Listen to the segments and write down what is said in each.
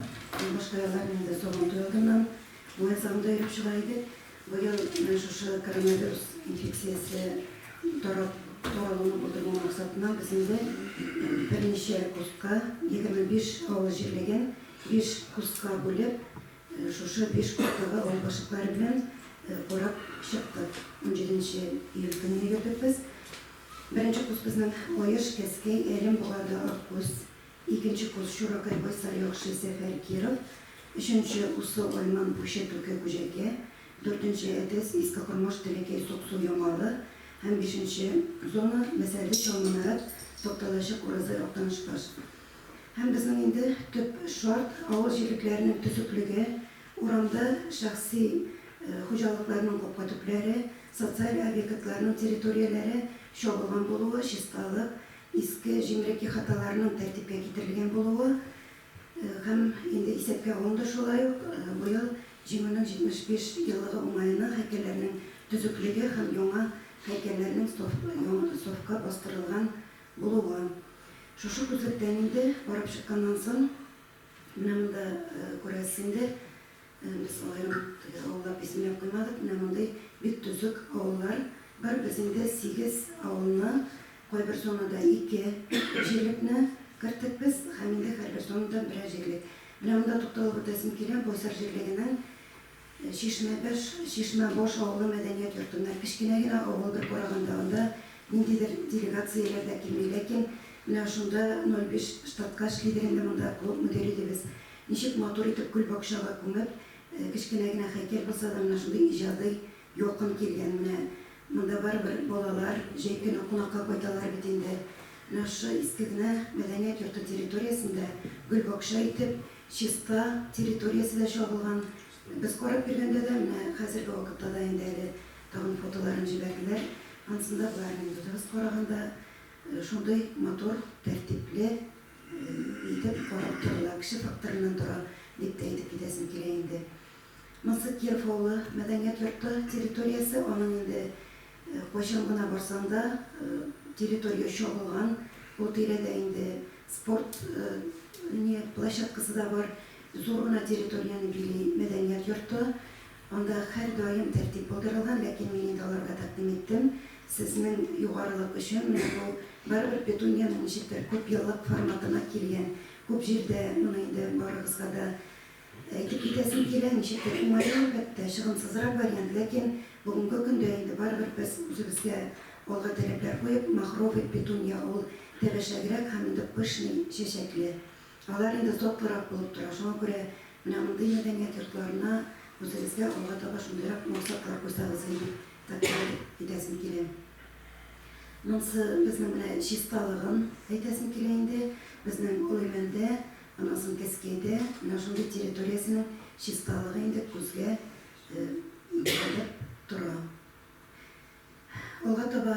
Башка еллар мин дә Сабантуй алдыннан муәззамда йөреп чыга идек. Быел менә шушы коронавирус инфекциясе таралуны булдырмау максатыннан безнең дә берничә курска, 25 авыл җирлеген биш курска бүлеп, шушы биш курстагы авыл башлыклары белән карап чыктык. Унҗиденче июль көнне йөрдек без. Беренче курс безнең Аеш, Кәскәй, Әлем, Богарды, Аккүз, Икенче курс Чуракай Байсар Яхшы Сәфәр Киров, өченче Усы Айман Пуща Түке Күҗәкә, дүртенче Әтәс Иске Кормаш Тәләкәй Суксу Ямалы һәм бишенче Зона Мәсәле Чал Манарат Токталачык Уразай Актанышбаш һәм безнең инде төп шарт авыл җирлекләренең төзеклеге, урамда шәхси хуҗалыкларның капка төпләре, социаль объектларның территорияләре чагылган булуы, чисталык, Иске җимерек ихаталарның тәртипкә китерелгән булуы һәм инде исәпкә алынды, шулай ук быел Җиңүнең 75 еллыгы уңаена һәйкәлләрнең төзеклеге һәм яңа һәйкәлләрнең стовка бастырылган булуы. Шушы күзлектән инде барып чыкканнан соң, менә монда күрәсеңдер, Без алай ук төгәл авыллар исемләп куймадык. Менә мондый бик төзек авыллар бар. Без инде сигез авылны, кайбер зонада ике җирлекне керттек без һәм инде һәрбер зонада берәр җирлек. Менә монда тукталып үтәсем килә, Байсар җирлегенең Чишмәбәш, Чишмәбаш авылы мәдәният йортында. Кечкенә генә авыл, бер караганда анда ниндидер делегацияләр дә килми, ләкин менә шунда 05 штатка эшли дигәндә монда клуб мөдире идебез. Ничек матур итеп гөлбакчага күмеп, кечкенә генә хәйкәл булса да, менә шундый иҗади ялкын килгән. Менә монда барыбер балалар җәй көне кунакка кайталар бит инде. Менә шушы иске генә мәдәният йорты территориясен дә гөлбакча итеп, чиста территориясе дә чагылган. Без карап йөргәндә дә, менә хәзерге вакытта да инде әле тагын фотоларын җибәрделәр, анысында боларны үзебез караганда шундый матур, тәртипле, Әйтеп карап торыла, кеше факторыннан тора, дип тә әйтеп китәсем килә инде. Монсы Киров авылы, мәдәният йорты территориясе, аның инде кайчан гына барсаң да, территория чагылган, ул тирәдә инде спорт не площадкасы да бар, зур гына территорияне били мәдәният йорты. Анда һәрдаим тәртип булдырылган, ләкин мин инде аларга тәкъдим иттем, сезнең югарылык өчен менә бу барыбер петуньяның ничектер күпьеллык форматына килгән, күп җирдә моны инде барыгызга да әйтеп китәсем килә, ничектер уңае, әлбәттә, чыгымсызрак вариант, ләкин бүгенге көндә инде барыбер без үзебезгә алга таләпләр куеп, махровый петунья ул тәбәшәгрәк һәм инде пышный чәчәкле. Алар инде затлырак булып тора, шуңа күрә менә мондый мәдәният йортларына үзегезгә алга таба шундыйрак максатлар куйсагыз иде дип тәкъдим итәсем килә. Монсы безнең менә чисталыгын әйтәсем килә инде. Безнең Олыймәндә, аннан соң Кәскәйдә менә шундый территориясенең чисталыгы инде күзгә бәрелеп тора. Алга таба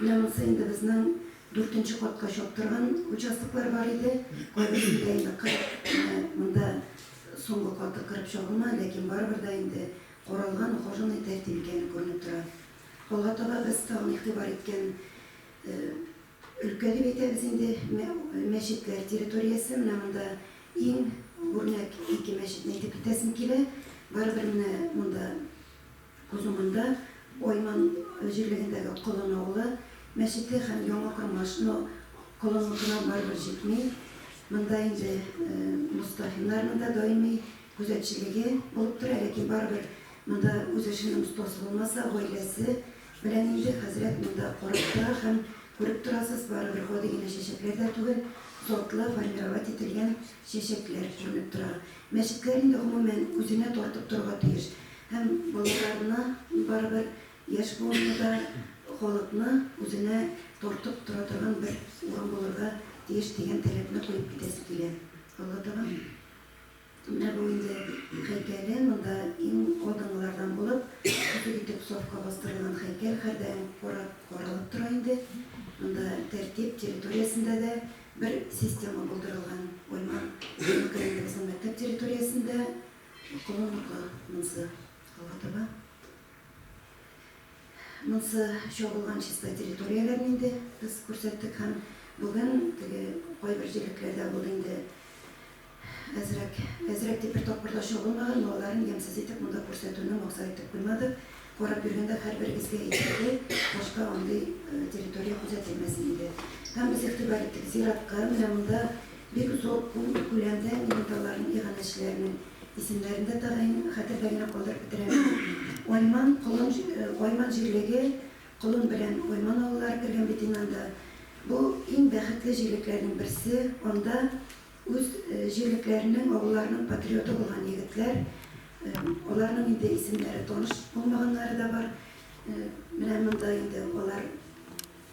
Менә монысы инде безнең дүртенче катка чаптырган участоклар бар иде. Кайберсендә инде кырып, менә монда соңгы каты кырып чабылмады, ләкин барыбер дә инде каралган, ухоженный, тәртип икәне күренеп тора. Алга таба без тагын игътибар иткән өлкә дип әйтәбез инде, мәчетләр территориясе. Менә монда иң үрнәк ике мәчетне әйтеп китәсем килә. Барыбер менә монда Күз уңында Гойман җирлегендәге Колын авылы мәчете һәм Яңа Кормаш, но Колын утына барыбер җитми, монда инде Мостафиннарның да даими күзәтчелеге булып тора, ләкин барыбер монда үз эшенең остасы булмаса, гаиләсе белән инде хәзрәт монда карап тора һәм күреп торасыз, барыбер гади генә чәчәкләр дә түгел, сортлы, формировать ителгән чәчәкләр күренеп тора. Мәчетләр инде гомумән үзенә тартып торырга тиеш. Һәм балаларына, барыбер яшь буынны да, халыкны үзенә тартып тора торган бер урын булырга тиеш дигән таләпне куеп китәсе килә. Алладаган менә бу инде һәйкәле, монда иң алдынгылардан булып, бөтен итеп сафка бастырылган һәйкәл һәрдаим карап, каралып тора инде. Монда тәртип, территориясендә дә бер система булдырылган. Гыйльман Зәйнетдиновның мәктәп территориясендә, Укылы бука монсы, алга таба. Монсы чабылган чиста территорияләрне инде без күрсәттек һәм бүген теге кайбер җирлекләрдә ул инде әзрәк, әзрәк дип бер тапкырда чабылмаган, малларын ямьсез итеп монда күрсәтүне максат итеп куймадык. Карап йөргәндә һәрбер изге әйбердә башка андый территория күзәтелмәс иде. Һәм без игътибар иттек, зиратка, менә монда бик зур күләмдә миндалларның, иганәчеләрнең исемнәрен дә тәгаен хәтердә генә калдырып бетерәбез. Айман, Колын, Айман җирлеге, Колын белән Айман авыллары кергән бит инде анда. Бу, иң бәхетле җирлекләрнең берсе, анда Үз җирлекләренең, авылларының патриоты булган егетләр. Аларның инде исемнәре таныш булмаганнары да бар. Менә монда инде алар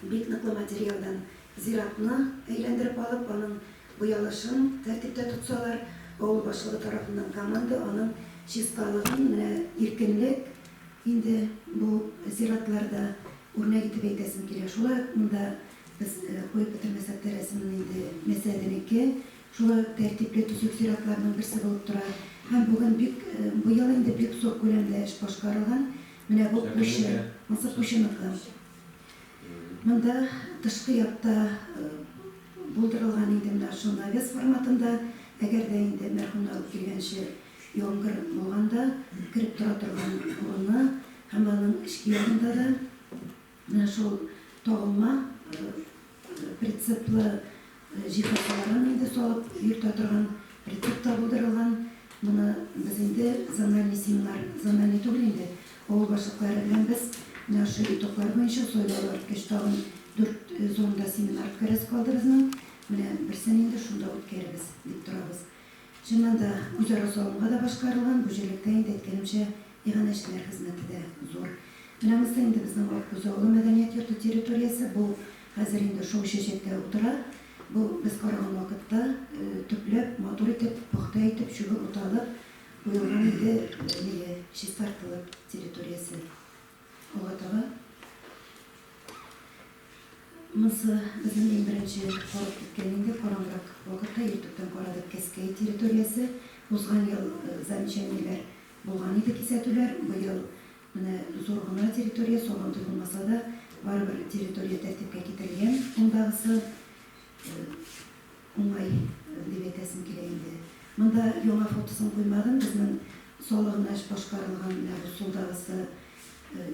бик ныклы материалдан зиратны әйләндереп алып, аның буялышын тәртиптә тотсалар, авыл башлыгы тарафыннан команда аның чисталыгын, менә иркенлек инде бу зиратларда, үрнәк итеп әйтәсем килә. Шулай ук монда Без куеп бетермәсәк тә рәсемне инде Мәсәденеке шулай ук тәртипле, төзек зиратларның берсе булып тора. Һәм бүген бик, бу ел инде бик зур күләмдә эш башкарылган. Менә бу кучы, ансы кучыныкы. Монда тышкы якта булдырылган инде менә шул навес форматында, әгәр дә инде мәрхүмнәр үк килгәнче яңгыр булганда кереп тора торган урыны һәм аның эчке ягында да Менә шул тагылма прицеплы җиһазларын инде салып йөртә торган прицеп та булдырылган. Моны без инде зональный семинар, зональный түгел инде, авыл башлыклары белән без менә шушы итоглар буенча сайлау үткәч тагын дүрт зонда семинар үткәрәсе калды безнең. Менә берсен инде шунда үткәрербез дип торабыз. Чыннан да, үзара салымга да башкарылган бу җирлектә инде, әйткәнемчә, иганәчеләр хезмәте дә зур. Менә монысы инде безнең Аткүз авылы мәдәният йорты территориясе. Бу хәзер инде шау чәчәктә утыра. Бу без караган вакытта төпләп, матур итеп, пөхтә итеп, чүбе уталып куелган иде, миле, чистартылып территориясе. Алга таба Монысы безнең иң беренче карап киткән инде караңгырак вакытта ютубтан карадык Кәскәй территориясе. Узган ел э, замечаниеләр булган иде кисәтүләр. Быел менә зур гына территория, сабантуй булмаса да, барыбер территория тәртипкә китерелгән. Мондагысы э, Уңай, дип әйтәсем килә инде. Монда яңа фотосын куймадым, безнең салыгына эш башкарылган менә бу сулдагысы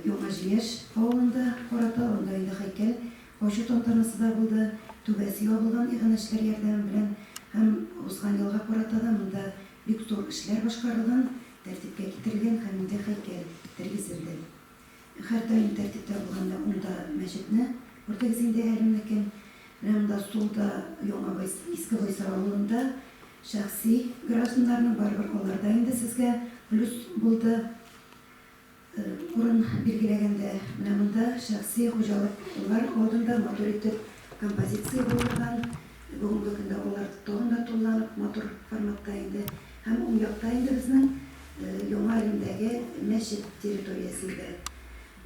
Яңа Җиңеш авылында карата, анда инде һәйкәл ачу тантанасы да булды, түбәсе ябылган иганәчеләр ярдәме белән һәм узган елга карата да монда бик зур эшләр башкарылган, тәртипкә китерелгән һәм инде һәйкәл тергезелде. Һәр даим тәртиптә булганда ун да мәчетне күрдегез инде әле мөмкин. Менә монда сулда яңа гой Иске Гойсыр авылында шәхси гражданнарның барыбер алар да инде сезгә плюс булды. Урын билгеләгәндә менә монда шәхси хуҗалыклар алдында матур итеп композиция булдырган. Бүгенге көндә алар тагын да тулыланып матур форматта инде Һәм уң якта инде безнең Яңа Римдәге мәчет территориясе иде.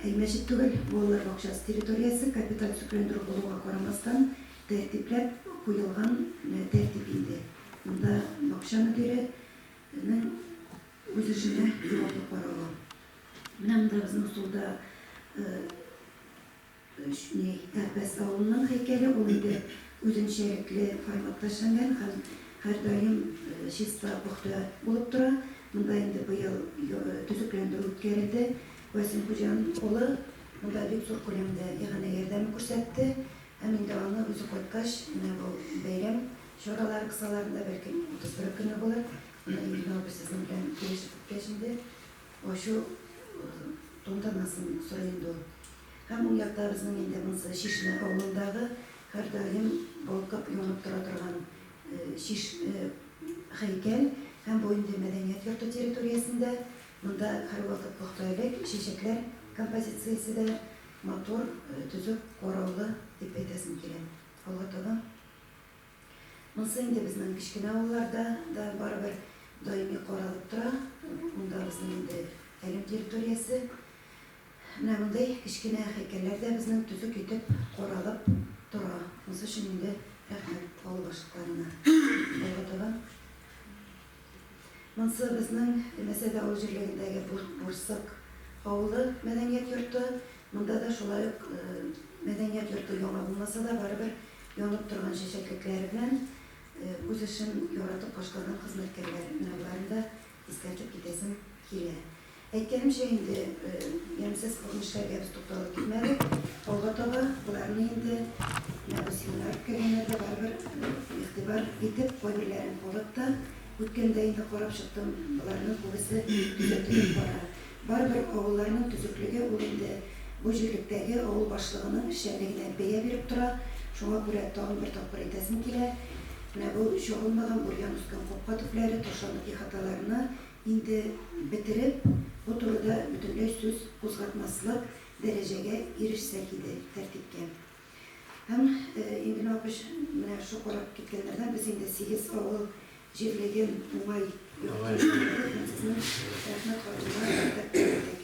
Әй, мәчет түгел, балалар бакчасы территориясе, капиталь төзекләндерү булуга карамастан, тәртипләп куелган тәртип инде. Монда бакча мөдиренең үз эшенә җаваплы каравы. Менә монда безнең сулда Өч ни, Әпәс авылының һәйкәле ул инде, үзенчәлекле форматта эшләнгән һәм һәрдаим чиста, пөхтә булып тора. Монда инде быел төзекләндерү үткәрелде. Васил Хуҗан улы монда бик зур күләмдә иганә ярдәме күрсәтте һәм инде аны үзе кайткач, менә бу бәйрәм чаралары кысаларында, бәлкем 31 көне булыр, моны Илгиз абый сезнең белән килешеп беткәч инде, Ачу тантанасын сорый инде ул. Һәм уң якта безнең инде монысы Чишмә авылындагы һәрдаим балкып янып тора торган чиш һәйкәл һәм бу инде мәдәният йорты территориясендә. Монда һәрвакыт пөхтәлек, чәчәкләр композициясе дә матур, төзек караулы дип әйтәсем килә. Алга таба. Монсы инде безнең кечкенә авылларда да барыбер даими каралып тора. Монда безнең инде Әлем территориясе. Менә мондый кечкенә һәйкәлләр дә безнең төзек итеп каралып тора. Монсы өчен инде рәхмәт авыл башлыкларына. Алга таба Монсы безнең Мәсәд авыл җирлегендәге Бурсык авылы мәдәният йорты. Монда да шулай ук мәдәният йорты яңа булмаса да, барыбер янып торган чәчәклекләре белән үз эшен яратып башлаган хезмәткәрләр. Менә боларын да искәртеп китәсем килә. Әйткәнемчә инде, ямьсез күренешләргә без тукталып китмәдек. Алга таба боларны инде Василина үткәргәннәр дә барыбер игътибар итеп, кайберләрен карап та үткәндә инде карап чыктым, боларның күбесе төзәтелеп бара. Барыбер авылларның төзеклеге ул инде бу җирлектәге авыл башлыгының эшчәнлегенә бәя биреп тора. Шуңа күрә тагын бер тапкыр әйтәсем килә, менә бу чагылмаган, бурьян үскән капка төпләре, ташландык ихаталарны Инде бетереп, бу турыда бөтенләй сүз кузгатмаслык дәрәҗәгә ирешсәк иде, тәртипкә. Һәм инде миңа көч менә шул карап киткәннәрдән без инде сигез авыл җирлеген уңай йорт-җирләре һәм сезнең рәхмәт хатында рәтләп бетердек.